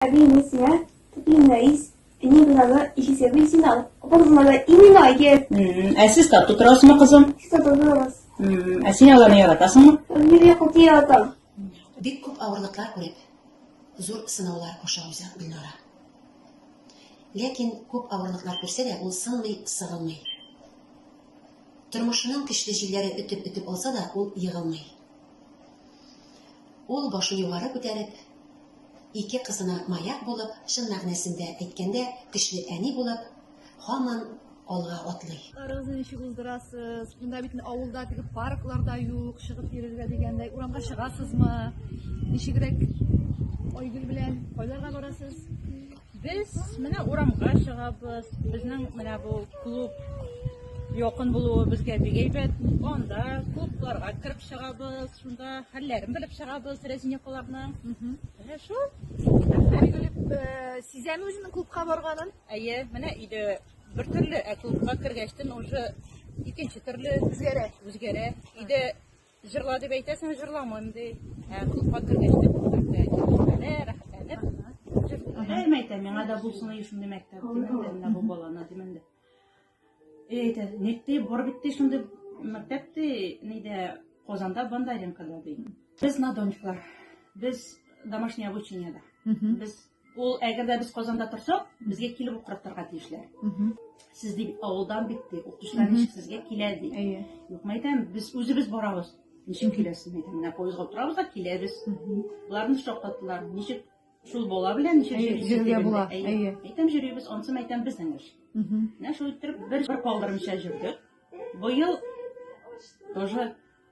Әби инде сиңа тотыйм Рәис, әни бинаны ишесе бит син ал. Апа кызыма да именно әйгер. Ә сез тату торасызмы, кызым? Сиз тату торабыз. Ә син аларны яратасыңмы? Бибия коты яратам. Бик күп авырлыклар күреп, зур сынаулар аша уза Гөлнара. Ләкин күп авырлыклар күрсә дә, ул сынмый, сыгылмый. Тормышының көчле җилләре өтеп-өтеп алса да, ул егылмый. Ул, башын югары күтәреп, ике кызына маяк булып, чын мәгънәсендә әйткәндә, көчле әни булып, һаман алга атлый. Арыгызны ничек уздырасыз? Монда бит авылда теге парклар да юк, чыгып йөрергә дигәндәй. Урамга чыгасызмы? Ничегрәк Айгөл белән кайларга барасыз? Без менә урамга чыгабыз. Безнең менә бу клуб якын булуы безгә бик әйбәт. Анда клубларга кереп чыгабыз, шунда хәлләрен белеп чыгабыз Рәзинякаларның. Менә шул. Билгелеп, э, сизәме үзенең клубка барганын? Әйе, менә иде бер төрле, ә клубка кергәчтен уже икенче төрле Үзгәрә. үзгәрә. Иде Җырла дип әйтәсең, җырламыйм ди. Ә кызга кергәч тә күрсәтә, җырламыйм, рәхәтләнеп. Әйм әйтә, миңа да булсын ди шундый мәктәп, димен дә, бу баланы, димен дә. Эй, әйтә, ник ди, бар бит ди шундый мәктәп ди, нидә, Казанда Бондаренкода ди. Без на дончклар, без домашнее обучениеда. Без Ул әгәр дә без Казанда торсак, безгә килеп укыртырга тиешләр. Сез дип авылдан бит ди, укытучылар ничек сезгә килә ди. Әйе. Юк, мәйтәм, без үзебез барабыз. Ничек киләсез мәйтәм, менә поездга утырабыз да киләбез. Боларны шаккаттылар. Ничек шул бала белән ничек Әйе, йөрисез йөрергә дигәндә, була, әйе. әйе. Мәйтәм җөрибез, ансы мәйтәм безнең эш. Менә шул иттереп бер бер калдырмыйча җөрдек. Быел тоже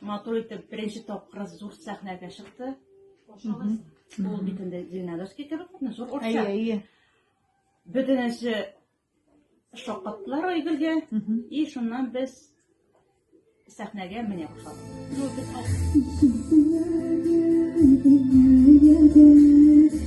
Матур итеп беренче тапкыр зур сәхнәгә чыкты. Ул бит инде Зеленодольский кебек, зур Әйе, орча. әйе. Бөтенесе шаккаттылар Айгөлгә, Мгм. и шуннан без сәхнәгә менә башладык. Ну, без ал- Сине